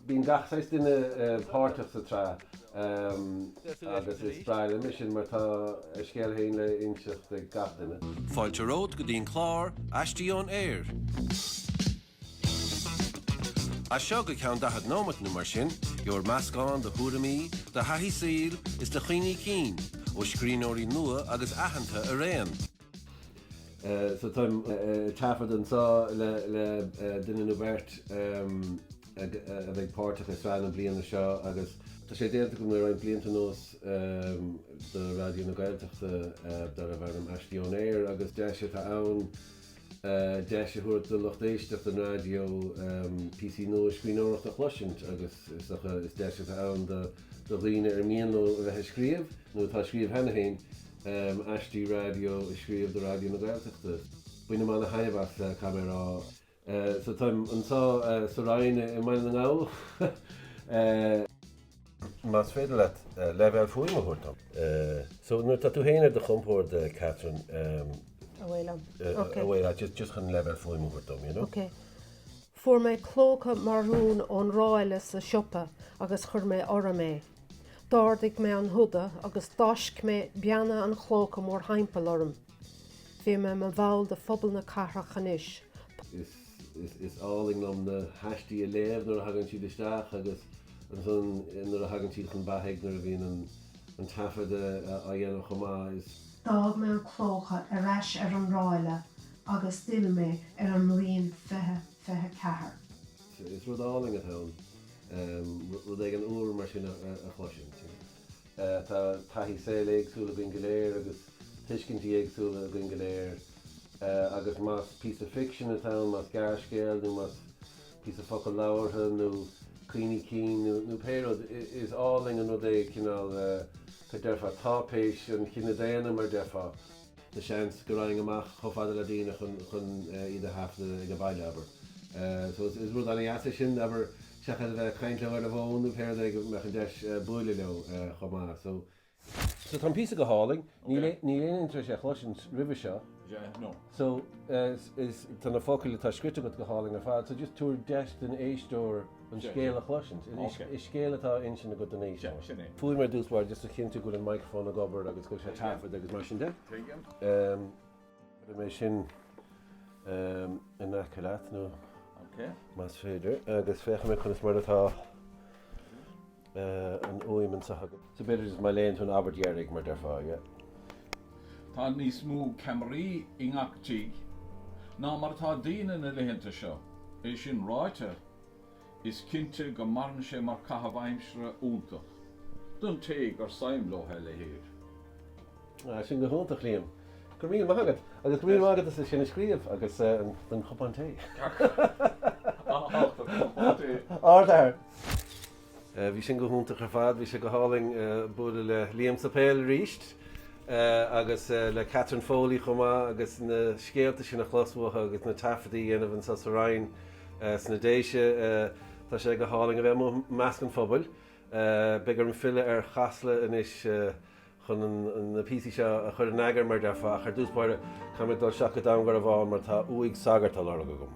Bíonn gach saghas duine páirteach sa tsraith agus is breá liom é sin mar tá a scéal féin le hinsint ag gach duine. Fáilte romhat go dtí an clár Aistí Ón Aer! As seo go ceann daichead nóimeat nó mar sin, gheobhair meascán de thuairimí, de thaithí saoil is de chuimhní cinn ó scríbhneoirí nua agus aitheanta araon. So táim ag taifeadadh anseo le duine nó beirt a bheidh páirteach i sraith na bliana seo agus. Tá sé déanta agam le roinnt blianta anuas do Raidió na Gaeltachta darbh ainm Aistí Ón Aer agus deis atá ann deis a thabhairt do lucht éisteachta an raidió píosaí nua scríbhneoireachta a chloisint agus is dócha is deis atá ann do dhaoine ar mian leo a bheith ag scríobh nó atá ag scríobh cheana féin um aistí raidió a scríobh do Raidió na Gaeltachta. Bainim an-taitneamh as caithfidh mé a rá so táim anseo sa Roinn i mBaile na nGall. más féidir leat leibhéal fuaime a thabhairt dom. so nuair atá tú féin ar do chompord Catherine, um. a bhuail liom. ok. a bhuail liom just chun leibhéal fuaime a thabhairt dom, you know. ok. Fuair mé clóca marún ón ráille sa siopa agus chuir mé orm é. D'ardaigh mé an húda agus d'fháisc mé beanna an chlóca mórthimpeall orm. Bhí mé i mo bhall de phobal na cathrach anois. Is, is, is álainn liom na haistí a léamh nuair a thagann siad isteach agus ansan nuair a thagann siad chun beatha, nuair a bhíonn an, an taifeadadh á dhéanamh chomh maith. Is. D'fhág mé an clóca ar ais ar an ráille agus d'fhill mé ar an mbliain fiche fiche ceathair. Is rud álainn atá ann rud éigin úr mar sin a chloisint. Tá taithí saoil éagsúil againn go léir agus tuiscintí éagsúla againn go léir agus más píosa ficsin atá ann, más gearrscéal nó más píosa focal labhartha nó cuimhní cinn nó pé rud, is álainn an rud é cineál, deirfeá, táipéis an chine daonna mar deirfeá. Tá seans go raghainn amach chomh fada le daoine chun chun iad a thaifeadadh ag an bhaile, abair. So is is rud annamh é sin, abair, seachas a bheith ag caint leo ar an bhfón nó pé rud é go mbeadh an deis buaileadh leo chomh maith. So. So tá an píosa go hálainn. Nílim nílim tar éis é a chloisint roimhe seo. Yeah, no. So is is tá na focail atá scríte agat go hálainn ar fad. So just tabhair deis don éisteoir. an scéal a chloisint. Is scéal atá á insint agat don éisteoir. Faoi mar a dúrt is fearr just a chinntiú go bhfuil an micreafón ag obair agus go bhfuil sé ag taifead agus mar sin de. Tuigim. Cuirfidh mé é sin in aice leat nó más féidir agus féachfaidh mé conas mar atá. an uaimh insa chogadh. So b'fhéidir is maith léann tú an abairt dheiridh mar deirfeá, aige. Tá níos mó ceamaraí i ngach tigh ná mar atá daoine na laethanta seo. É sin ráite, is cinnte go maireann sé mar chaitheamh aimsire iontach don té gur suim leo a leithéid. Sin go hiontach Liam. Go raibh míle maith agat agus go raibh míle maith agat as sin a scríobh agus don chupán tae. Ardfhear. Bhí sin go hiontach ar fad. Bhí sé go hálainn bualadh le Liam sa Pheil arís agus le Catherine Foley chomh maith agus na scéalta sin a chlos uathu agus na taifeadaí a dhéanamh anso sa Rinn sna Déise. Tá sé go hálainn a bheith amuigh i measc an phobail. Beidh orm filleadh ar Chasla anois. chun na píosaí seo a chur in eagar mar a déarfá ach ar dtús báire caithfidh mé dul isteach go Dún Garbhán mar tá uaigh sagairt á lorg agam.